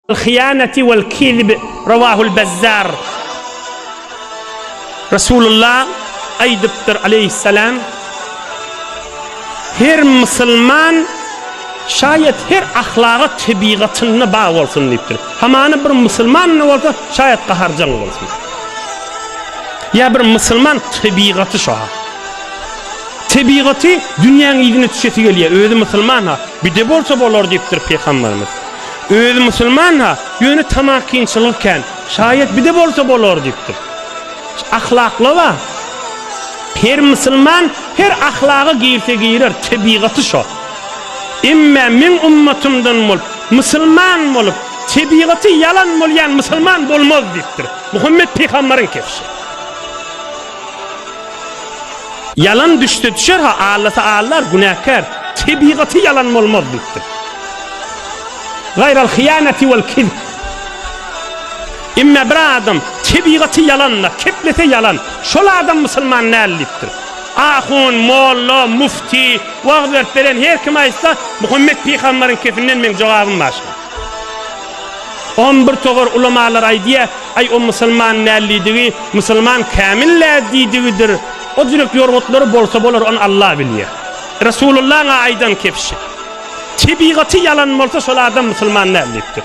Al-hyýanati wal-kizbi, Rawahul Bazzar. Resulullah aýdypdyr, aleýhissalam, Her musulman, şaýat her ahlaga tebigatynda bar bolsun diýipdir. Hamana bir musulmanda bolsa, şaýat gaharjaň bolsun. Ýa bir musulman tebigaty şo. Tebigaty dünýäň yzyna düşesi gelýär, özi musulman ha. Bir de bolsa bolar diýipdir Pygamberimiz. Özi musulman-ha, ýöne tamakinçiligi kän. Şaýat bir-de bolsa bolar diýipdir. Ahlakly-a. Her musulman her ahlaga girse girer, tebigaty şo. Emmä meň ummatymdan bolup, musulman bolup, tebigaty ýalan bolýan musulman bolmaz diýipdir. Muhammet pygamberiň kepişi. Ýalan düşde düşer-ha, allysy allar, günäkär, tebigaty ýalan bolmaz diýipdir. Gaýral hyýanati wal kizb. Emme bir adam tebigaty ýalan-da, keplese ýalan, şol adam musulman däl diýipdir. Ahun, molla, mufti, wagyz berip beren her kim aýtsa, Muhammet pygambaryň kepinden meň jogabym başga. On bir togar ulamalar aýdýar, Aý, o musulman nällidigi, musulman kämil nädidigidir. O jürek ýorgutlary bolsa bolar, ony Alla bilýär. Resulullahyň-a aýdan kebşi. Tebigaty ýalan bolsa, şol adam musulman näldipdir.